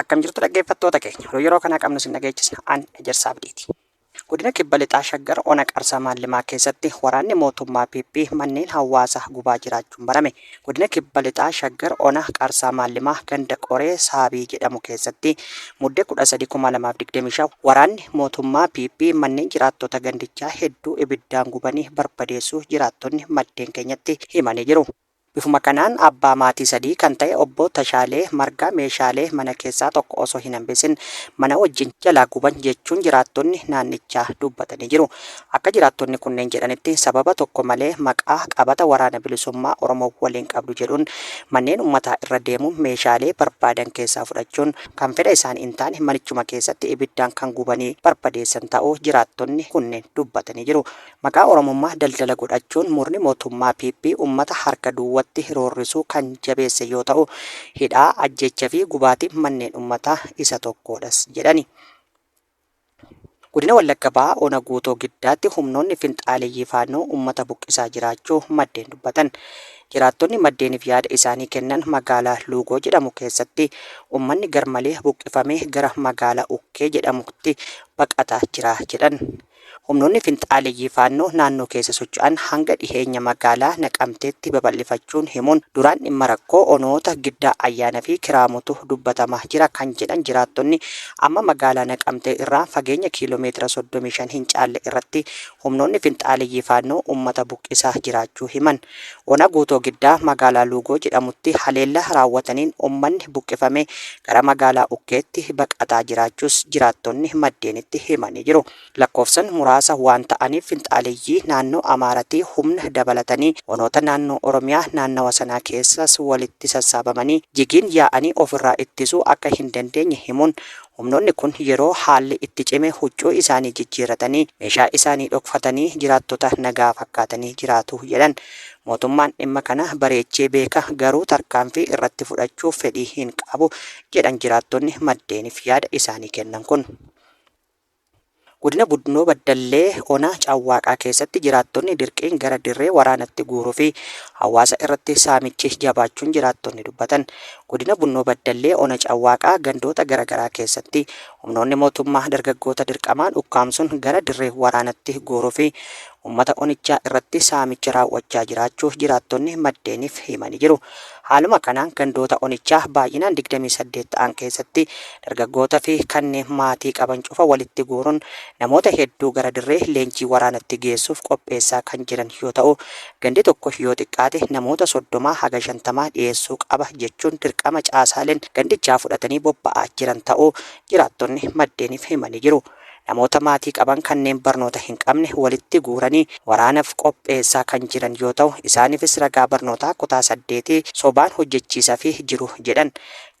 Akkam jirtu dhaggeeffattoota keenya oduu yeroo kanaa qabnu sin dhageechisna an ejersaa abdiiti. Godina kibba lixaa shaggar ona qarsaa maallimaa keessatti waraanni mootummaa PP manneen hawaasaa gubaa jiraachuun barame. Godina kibba lixaa shaggar ona qarsaa maallimaa ganda qoree saabii jedhamu keessatti muddee 13,2025 waraanni mootummaa PP manneen jiraattota gandichaa hedduu ibiddaan gubanii barbadeessuu jiraattonni maddeen keenyatti himanii jiru. Bifuma kanaan abbaa maatii sadii kan ta'e Obbo Tashaalee Margaa meeshaalee mana keessaa tokko osoo hin hambisin mana wajjin jalaa guban jechuun jiraattonni naannichaa dubbatanii jiru. Akka jiraattonni kunneen jedhanitti sababa tokko malee maqaa qabata Waraana Bilisummaa Oromoo waliin qabdu jedhuun manneen ummataa irra deemuun meeshaalee barbaadan keessaa fudhachuun kan fedha isaanii hin taane manichuma keessatti ibiddaan kan gubanii barbadeessan ta'uu jiraattonni kunneen dubbatanii jiru. Maqaa Oromummaa daldala godhachuun murni mootummaa PP ummata harka duwwatti roorrisuu kan jabeesse yoo ta'u, hidhaa, ajjeecha fi gubaatiin manneen ummataa isa tokkoodhas jedhani. Godina Wallagga Bahaa Ona Guutoo Giddaatti humnoonni finxaaleyyii Faannoo ummata buqqisaa jiraachuu maddeen dubbatan. Jiraattonni maddeeniif yaada isaanii kennan magaalaa Luugoo jedhamu keessatti ummanni garmalee buqqifamee gara magaalaa Ukkee jedhamutti baqataa jira jedhan. Humnoonni finxaaleyyii Faannoo naannoo keessa socho'an hanga dhiheenya magaalaa Naqamteetti babal'ifachuun himuun, duraan dhimma rakkoo onoota Giddaa Ayyaana fi Kiraamutu dubbatama jira kan jedhan jiraattonni, amma magaalaa Naqamtee irraa fageenya kiiloo meetira 35 hin caalle irratti humnoonni finxaaleyyii Faannoo uummata buqqisaa jiraachuu himan. Ona Guutoo Giddaa magaalaa Luugoo jedhamutti haleellaa raawwataniin ummanni buqqifamee gara magaalaa Ukkeetti baqataa jiraachuus jiraattonni maddeenitti himanii jiru. Lakkoofsan muraasa waan ta'aniif finxaaleyyii naannoo Amaaratii humna dabalatanii onoota naannoo Oromiyaa naannawa sanaa keessaas walitti sassaabamanii jigiin yaa'anii ofirraa ittisuu akka hin dandeenye himuun Humnoonni kun yeroo haalli itti cime huccuu isaanii jijjiirratanii, meeshaa isaanii dhokfatanii jiraattota nagaa fakkaatanii jiraatu jedhan. Mootummaan dhimma kana bareechee beeka, garuu tarkaanfii irratti fudhachuuf fedhii hin qabu, jedhan jiraattonni maddeenif yaada isaanii kennan kun. Godina Bunnoo Baddallee ona Cawwaaqaa keessatti jiraattonni dirqiin gara dirree waraanatti guuruu fi hawaasa irratti saamichi jabaachuun jiraattonni dubbatan. Godina Bunnoo Baddallee ona Cawwaaqaa gandoota gara garaa keessatti humnoonni mootummaa dargaggoota dirqamaan ukkaamsuun gara dirree waraanatti guuruu fi Ummata onichaa irratti saamicha raawwachaa jiraachuu jiraattonni maddeenif himani jiru. Haaluma kanaan gandoota onichaa baay'inaan 28 ta'an keessatti dargaggoota fi kanneen maatii qaban cufa walitti guurun namoota hedduu gara dirree leenjii waraanatti geessuf qopheessaa kan jiran yoo ta'u gandi tokko yoo xiqqaate namoota 30 haga 50 dhiyeessuu qaba jechuun dirqama caasaalen gandichaa fudhatanii bobba'aa jiran ta'uu jiraattonni maddeenif himani jiru. namoota maatii qaban kanneen barnoota hin qabne walitti guuranii waraanaf qopheessaa kan jiran yoo ta'u isaanifis ragaa barnootaa kutaa saddeetii sobaan hojjechiisafi jiru jedhan.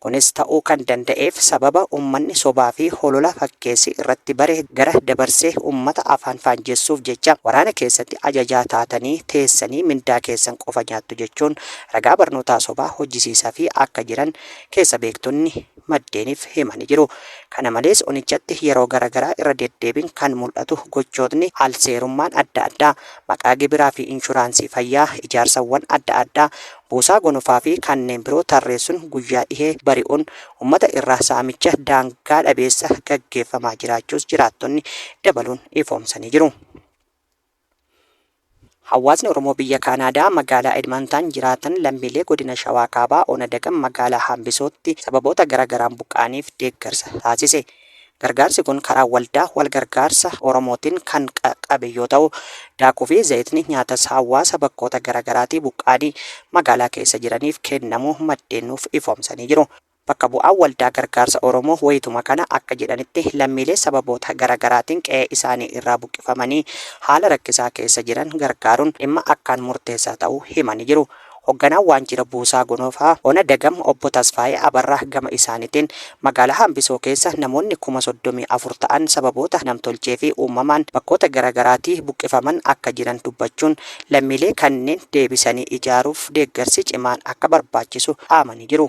Kunis ta'uu kan danda'eef sababa ummanni sobaa fi holola fakkeessi irratti bare gara dabarsee ummata afaan faanjessuuf jecha waraana keessatti ajajaa taatanii teessanii mindaa keessan qofa nyaattu jechuun ragaa barnootaa sobaa hojjisiisafi akka jiran keessa beektonni maddeeniif himani jiru. Kana malees onichatti yeroo gara garaa irra deddeebiin kan mul'atu gochootni al-seerummaan adda addaa, maqaa gibiraa fi inshuraansii fayyaa, ijaarsawwan adda addaa, buusaa gonofaa fi kanneen biroo tarreessun guyyaa dhihee bari'un ummata irraa saamicha daangaa dhabeessa gaggeeffamaa jiraachuus jiraattonni dabaluun ifoomsanii jiru. Hawaasni Oromoo biyya Kaanaadaa magaalaa Edmantan jiraatan lammiilee godina Shawaa Kaabaa ona Dagam magaalaa Haambisootti sababoota gara garaan buqqa'aniif deeggarsa taasise. Gargaarsi kun karaa waldaa wal gargaarsa Oromootiin kan qaqqabe yoo ta'u, daakuu fi zayitni nyaatas hawaasa bakkoota gara garaatii buqqa'anii magaalaa keessa jiraniif kennamuu maddeen nuuf ifoomsanii jiru. Bakka bu'aan Waldaa Gargaarsa Oromoo wayituma kana akka jedhanitti, lammiilee sababoota gara garaatiin qe'ee isaanii irraa buqqifamanii haala rakkisaa keessa jiran gargaaruun dhimma akkaan murteessaa ta'uu himanii jiru. Hogganaan Waanjira Buusaa Gonofaa Ona Dagam Obbo Tasfaayee Abarraa gama isaanitiin, magaalaa Hambisoo keessa namoonni kuma 34 ta'an sababoota namtolchee fi uumamaan bakkoota gara garaatii buqqifaman akka jiran dubbachuun, lammiilee kanneen deebisanii ijaaruuf deeggarsi cimaan akka barbaachisu dhaamanii jiru.